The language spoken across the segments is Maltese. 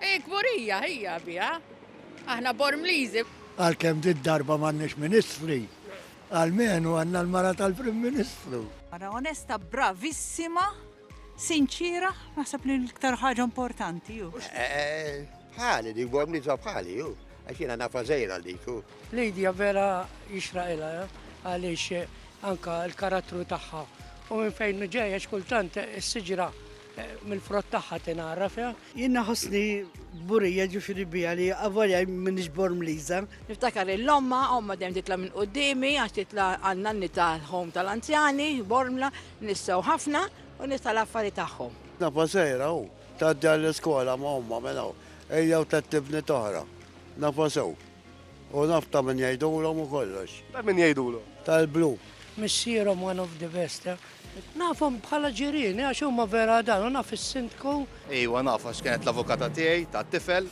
Hi kburija hija biha. Aħna Bormliżi. Għalkemm dit darba m'għandniex ministri, għalmenu għandna l-mara tal-Prim Ministru. Mara onesta, bravissima, sinċira, naħseb li l-iktar ħaġa importanti ju. Eh, eh, eh, bħali, dik Bormliża bħali ju. Għax jiena nafa żejra dik. Lidja vera jixraqilha għaliex anka l-karattru tagħha. U minn fejn ġejja x'kultant is-siġra mill-frott tagħha tingħaraf. Jien naħossni burija ġifieri bija li avolja m'iniex bormliża. Niftakar il omma omma dejjem titla' minn qudiemi għax titla' għandna nanni tal-ħom tal-anzjani, bormla, nissew ħafna u nista' l-affari tagħhom. Nafa sejra u tgħaddi għall-iskola ma' omma mela ejja u tettibni toħra. Nafa sew. U naf ta' min jgħidulhom u kollox. Ta' min jgħidulhom? Tal-blu. Missierhom one of the best. Nafhom bħala ġirieni għax huma vera dan u naf is-Sindku. Iwa naf għax kienet l-avukata tiegħi tat-tifel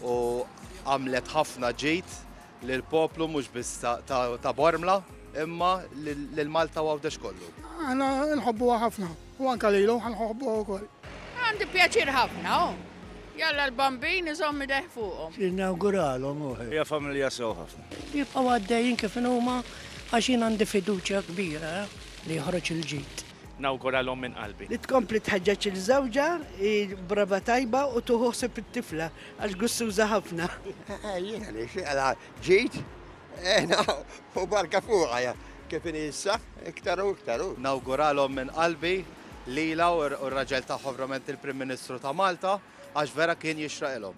u għamlet ħafna ġid lill-poplu mhux biss ta' Bormla imma lil Malta u Għawdex kollu. Aħna nħobbuha ħafna. U anka lilu ħan ħoħbu wkoll. Għandi pjaċir ħafna, oh. Jalla l-bambin iżomm ideh fuqhom. Jinnawguralhom uħ. Hija familja sew ħafna. Jibqgħu għaddejjin kif inhuma għax jien għandi fiduċja kbira li joħroġ il-ġid. Nawguralhom minn qalbi. Li tkompli tħeġġeġ lil żewġha, hi brava tajba u tuħu ħsieb it-tifla għax gussuża ħafna. Jiena nixtieqlha ġid. Ena, u barka fuqa ja, kif inhi issa, iktar u iktar u. Nawguralhom minn qalbi lilha u r-raġel tagħha verament il-Prim Ministru ta' Malta għax vera kien jixraqilhom.